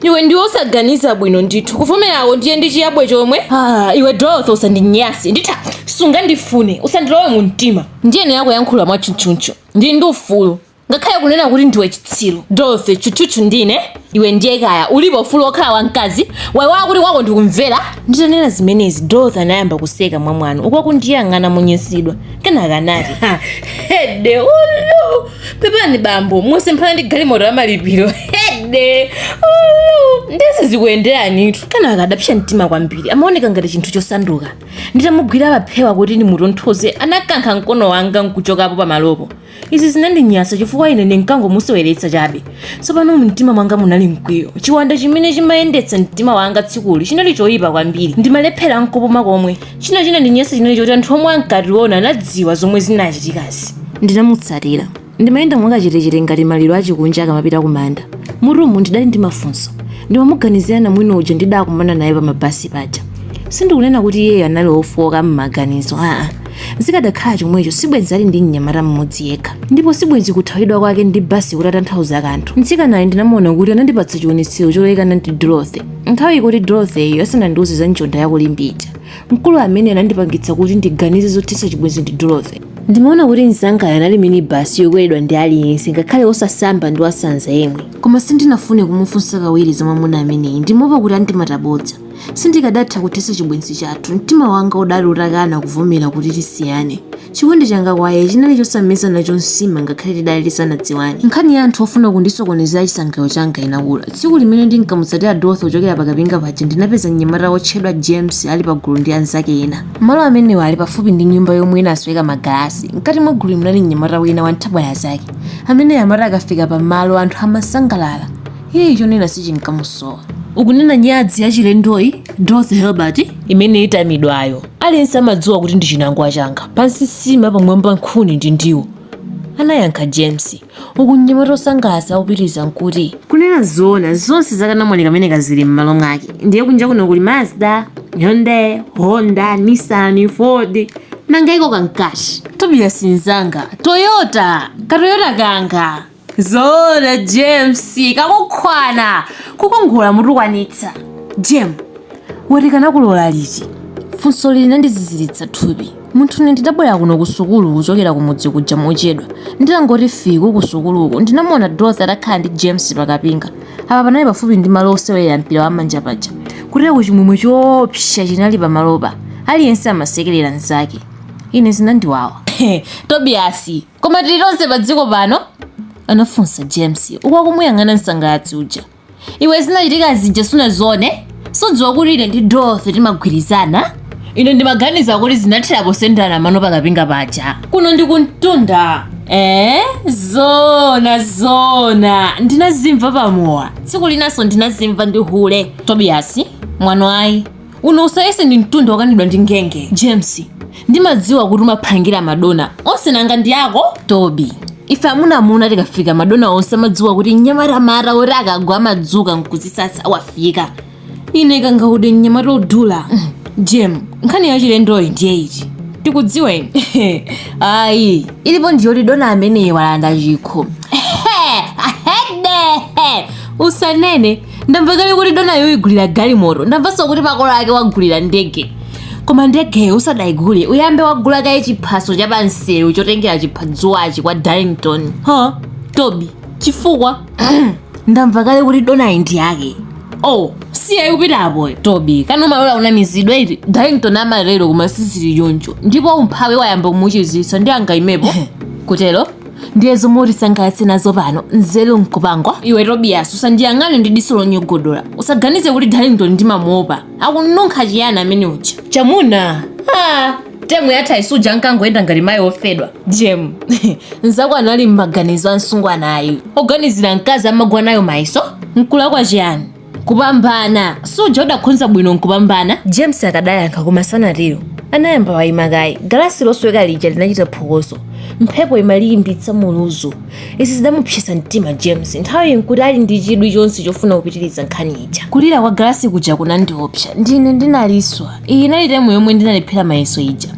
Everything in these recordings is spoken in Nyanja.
iwe ndiwe osaganiza bwino ndithu kuvomerawo ndiye ndi chiyabwe chomwe ah, iwe dorothy usandinyase nditha kusakufuna usandilowe mu mtima ndiyenera kuyankhula mwatchutchutchu ndi ndi ufulu ngakhale kunena kuti ndiwe chitsiru dorothy tchutchutchu ndine iwe ndiye kaya ulipo ufulu wokhala wamkazi waiwala kuti kwako ndikumvera nditanena zimenezi dorothy anayamba kuseka mwamwano uku akundiyang'ana monyansidwa kenaka anati hede ulu pepani bambo musemphana ndi galimoto ya malipiro hede ulu, ndiye zikuyenderanitu kenaka adapsa mtima kwambiri amaoneka ngati chinthu chosanduka nditamugwira paphewa kuti ndimutonthoze anakankha mkono wanga nkuchokapo pamalopo izi zinandinyasa chifukwa ine ndinkangomuseweretsa chabe tsopano mumtima mwanga munali mkwiyo chiwanda chimene chimayendetsa mtima wanga tsikuli chinali choyipa kwambiri ndimalephera nkupuma komwe china chinandinyasa chinali choti anthu omwe ankationa anadziwa zomwe zinachitikazi ndinamutsatira ndimayenda mwakachetechete ngati maliro achikunja akamapita kumanda m'mutumu ndidali ndi mafunso ndimamuganizira namwino uja ndidakumana naye pa mabasi paja sindikunena kuti iyeyo anali ofooka m'maganizo aa zikadakhala chomwecho sibwenzi ali ndi mnyamata mmodzi yekha ndipo sibwenzi kuthawidwa kwake ndi basi kutatanthauza kanthu mtsikanayo ndinamuona kuti anandipatsa chiwonetsero cholekana ndi dorothy nthawi yoti dorothyyo asanandiuze za njonda yakulimbe Mkulu amene anandipangitsa kuti ndiganize zothetsa chibwenzi ndi Dorothy. Ndimaona kuti mnzangayo anali minibasi yokweredwa ndi aliyense, ngakhale wosasamba ndi wasanza yemwe. Koma sindinafune kumufunsa kawiri za mwamuna ameneyi, ndimaopa kuti andimata bodza. Sindikadatha kuthetsa chibwenzi chathu. Mtima wanga udali utakana kuvomera kuti tisiyane. Chikondi changa kwa iye chinali chosameza nacho nsima ngakhale tidali tisanadziwane. Nkhani ya anthu ofuna kundisokonezera chisangalalo changa inakula. Tsiku limene ndinkamutsatira Dorothy kuchokera pakapinga paja ndinapeza mnyamata wotchedwa James ali pagulu ndi anzake ena. Malo amenewa anali pafupi ndi nyumba yomwe inasweka magalasi. Mkati mwa gululi munali mnyamata wina wanthabwala zake. Ameneyo amati akafika pamalo anthu amasangalala. Iyeyu chonena sichinkamusowa. Ukunena nyadzi yachilendoyi, Dorothy Helbert? Imene itamidwayo. Aliyense amadziwa kuti ndi chinangwa changa. Pansi nsima pamwamba nkhuni ndi ndiwo. Anayankha James, uku mnyamata osangalatsa akupitiriza kuti. Kunena zoona, zonse za kanamwali kameneka zili m'malo mwake. Ndiye kunja kuno kuli Mazda, Hyundai, Honda, Nissan, Ford. Nanga iko kankati? Tobias mnzanga, Toyota! Ka Toyota kanga! zoona james nkakukhwana kukongola mutukwanitsa jemu wati kanakulola liti funsoli linandiziziritsa thupi munthu ne ndidabwera kuno ku sukulu kuchokera ku mudzi kuja mochedwa nditangoti fike ku sukuluko ndinamuona dorothy atakhala ndi james pakapinga apa panali pafupi ndi malo osewerera mpira wa manja paja kuteroku chimwemwe choopsa chinali pamalopa aliyense amasekerera mnzake ine zinandiwawa tobiyasi koma tili tonse pa dziko pano anafunsa james uku akumuyang'ana msangalatsi uja iwe zinachitika zija sunaziwone sudziwa kuti ine ndi Dorothy timagwirizana ine ndimaganiza kuti zinathera posendana mano pakapinga paja kuno ndi kumtunda ee zona zona ndinazimva pamowa tsiku linanso ndinazimva ndi hule tobiyasi mwano ayi Uno usayese ndi mtunda wokanidwa ndi ngenge. James, ndimadziwa kuti umaphangira madona onse nanga ndi ako? Toby, ife amuna amuna tikafika madona onse amadziwa kuti mnyamata mata oti akagwa amadzuka nkudzisasa wafika. Ine kangaude mnyamata odula. Mm. Jem, nkhani ya chilendoyi ndiye iti? Tikudziwa ife. Ayi, ilipo ndiyoti dona ameneyi walanda chikho. Usanene ndamva kale kuti dona uyigulira galimoto ndamvanso kuti makolo ake uwagulira ndege koma ndegeyo usadayigule uyambe wagula kaye chiphaso cha pansewu chotengera chiphadzuwachi kwa darlington ha tobi chifukwa ndamva kale kuti donayi ndi yake oh siya ikupita apoyo tobi kana umalola unamizidwa iti darlington amatero koma sizili choncho ndipo umphawi wayamba kumuchititsa ndi angaimepo kutero ndiye zomwe utisangalatse nazo pano nzeru nkupangwa iwe tobiyasi usandiyang'ane ndi diso lonyogodola usaganize kuti darlington ndimamuopa akununkha chiyani amene uja chamuna ah, temu yathayi suja ankangoyenda ngati mayi ofedwa jem nzako anali m'maganizo a msungwanayu oganizira mkazi amagwa nayo mayeso nkulakwa chiyani kupambana suja udakhonza bwino nkupambana james akadayankha koma sanatero anayamba wayima kaye galasi losweka lija linachita phokoso mphepo imaliyimbitsa muluzu izi zidamupsesa mtima james nthawi nkuti ali ndi chidwi chonse chofuna kupitiriza nkhani ija kulira kwa galasi kuja kunandiopsa ndine ndinaliswa iyi inali temu yomwe ndinalephera mayeso ija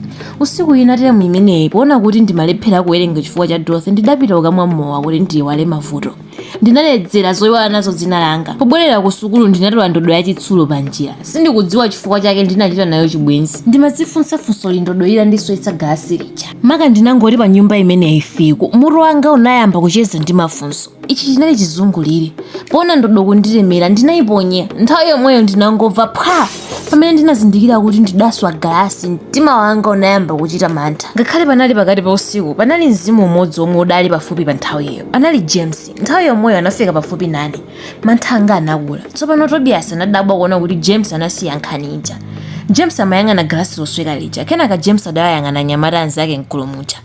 usiku wina temu imeneyi poona kuti ndimalephera kuwerenga chifukwa cha dorothy ndidapita kukamwa mowa kuti ndiyiwale mavuto Ndinaledzera zoiwala nazo dzina langa. Pobwerera kusukulu ndinatola ndodo yachitsulo panjira. Sindikudziwa chifukwa chake ndinachita nayo chibwenzi. Ndimadzifunsa funsoli ndodo itandiswetsa galasi lija. Maka ndinangoti panyumba imeneyi fike, mutu wanga unayamba kucheza ndi mafunso. Ichi chinali chizungulire. Poona ndodo kundilemera, ndinaiponya. Nthawi yomweyo ndinangomva phwa! pamene ndinazindikira kuti ndidaswa galasi mtima wanga unayamba kuchita mantha ngakhale panali pakati pa usiku panali mzimu umodzi womwe udali pafupi pa nthawiyo anali james nthawi yomweyo anafika pafupi nane mantha anga anakula tsopano tobias anadabwa kuona kuti james anasiya nkhani ija james amayang'ana galasi losweka lija kenaka james adayang'ana anyamata anzake mgulu muja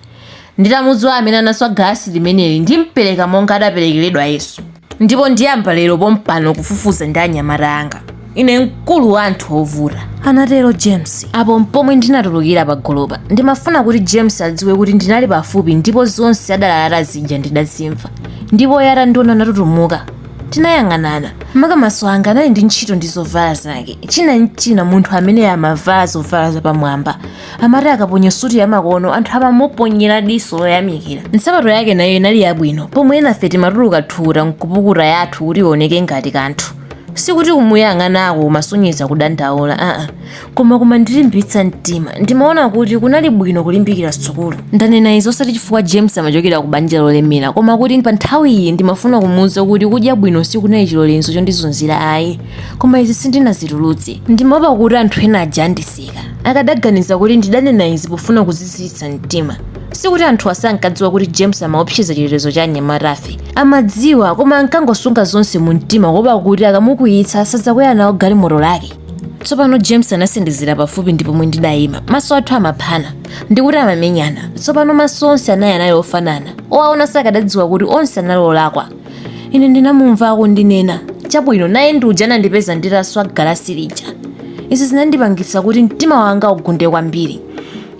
Nditamudziwa amene anaswa galasi limeneli ndimpereka monga adaperekeredwa Yesu. Ndipo ndiyamba lero pompano kufufuza ndi anyamata anga. Ine mkulu wa anthu ovuta. Anatero James. Apo mpomwe ndinatulukira pagulupa. Ndimafuna kuti James adziwe kuti ndinali pafupi ndipo zonse adalalata zija ndidazimva. Ndipo iye atandiona anatutumuka. Tinayang'anana. Maka maso anga anali ndi ntchito ndi zovala zake. China nchina munthu amene amavala zovala zapamwamba. Amati akaponya suti yamakono, anthu amamuponyera diso loyamikira. Nsapato yake nayo inali yabwino, pomwe enafe timatuluka thukuta n'kupukuta yathu kuti ioneke ngati kanthu. Sikuti kumuyang'anako kumasonyeza kudandaula aa, koma kumandilimbitsa mtima. Ndimaona kuti kunali bwino kulimbikira sukulu. Ndanena izi osati chifukwa James amachokera ku banja lolemera, koma kuti pa nthawiyi ndimafuna kumuuza kuti kudya bwino sikunali chilolezo chondizunzira ayi. Koma izi sindinazitulutse. Ndimaopa kuti anthu ena aja andiseka. Akadaganiza kuti ndidanena izi pofuna kuziziritsa mtima, sikuti anthuwa sankadziwa kuti James amaopseza chitetezo cha anyamatafe. Amadziwa koma ankangosunga zonse mu mtima kuopa kuti akamukwiyitsa sadzakwera nawo galimoto lake. Tsopano James anasendezera pafupi ndi pomwe ndidayima. Maso athu amaphana ndikuti amamenyana. Tsopano maso onse anayi anali ofanana. Owaona sakadadziwa kuti onse anali olakwa. ine ndinamumva akundinena chabwino naye ndi uja anandipeza nditaswa galasi lija izi zinandipangitsa kuti mtima wanga ugunde kwambiri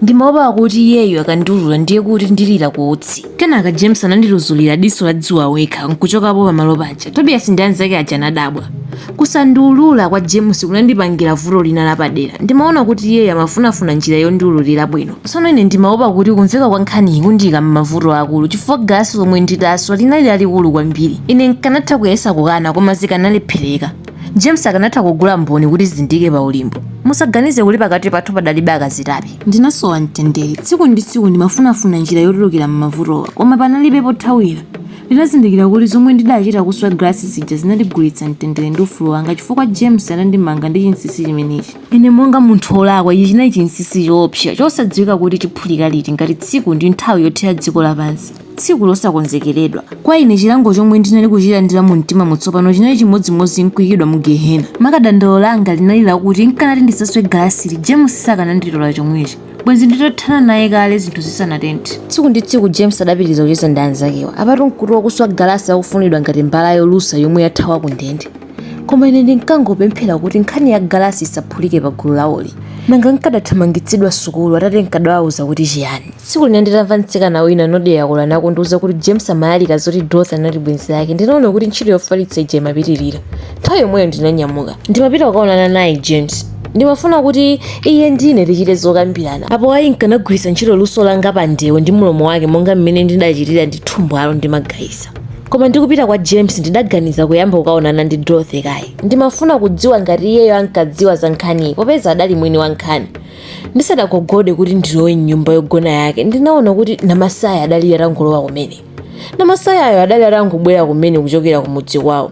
ndimaopa kuti iyeyo akandiulula ndiye kuti ndilira ku utsi kenaka james anandituzulira diso la dziwa wekha nkuchokapo pamalo paja tobias ndi anzake aja anadabwa Kusandiulula kwa James kunandipangira vuto lina lapadera. Ndimaona kuti iyeyo amafunafuna njira yondiululira bwino. Tsono ine ndimaopa kuti kumveka kwa nkhaniyi kundiika m'mavuto aakulu chifukwa galasi lomwe ndidaswa linali lalikulu kwambiri. Ine n'kanatha kuyesa kukana koma zikanalephereka. James akanatha kugula mboni kuti zindiike pa ulimbo. Musaganize kuti pakati pathu padalibe akazitape. Ndinasowa mtendere. Tsiku ndi tsiku ndimafunafuna njira yotulukira m'mavutowa koma panalibe pothawira. Ndinazindikira kuti zomwe ndidachita kuswa galasi zija zinandigulitsa mtendere ndi ufulu wanga chifukwa James anandimanga ndi chinsinsi chimenechi. Ine monga munthu wolakwa, ichi chinali chinsinsi choopsa, chosadziwika kuti chiphulika liti, ngati tsiku ndi nthawi yothera dziko lapansi, tsiku losakonzekeredwa. Kwa ine chilango chomwe ndinali kuchilandira mu mtimamu tsopano chinali chimodzimodzi n'kuikidwa mu Gehena. Maka dandaulo langa linali lakuti nkanati ndisaswe galasili, James sakananditola chomwechi. bwenzi nditathana naye kale zinthu zisanatenthe tsiku ndi tsiku james adapitiriza kucheza ndi anzakewa apatu nkuti wakuswa galasi akufunidwa ngati mbala yolusa yomwe yathawa ku ndende koma ine ndinkangopemphera kuti nkhani ya galasi isaphulike pa gulu lawoli nanga nkadathamangitsidwa sukulu atate nkadawauza kuti chiyani tsiku lina nditamva mtsikana wina nodeyakula nakundiuza kuti james amalalika zoti dorothy anali bwenzi lake ndinaona kuti ntchito yofalitsa ija imapitirira nthawi yomweyo ndinanyamuka ndimapita kukaonana naye james ndimafuna kuti iye ndine tichite zokambirana apo ayi nkanagwiritsa ntchito luso langa pa ndewo ndi mlomo wake monga mmene ndidachitira ndi thumbwalo ndi magayisa koma ndikupita kwa james ndidaganiza kuyamba kukaonana ndi dorothy kaye ndimafuna kudziwa ngati iyeyo ankadziwa za nkhaniyi popeza adali mwini wa nkhani ndisadagogode kuti ndilowe mnyumba yogona yake ndinaona kuti namasaya adali atangolowa kumene namasayayo adali atangobwera kumene kuchokera kumudzi kwawo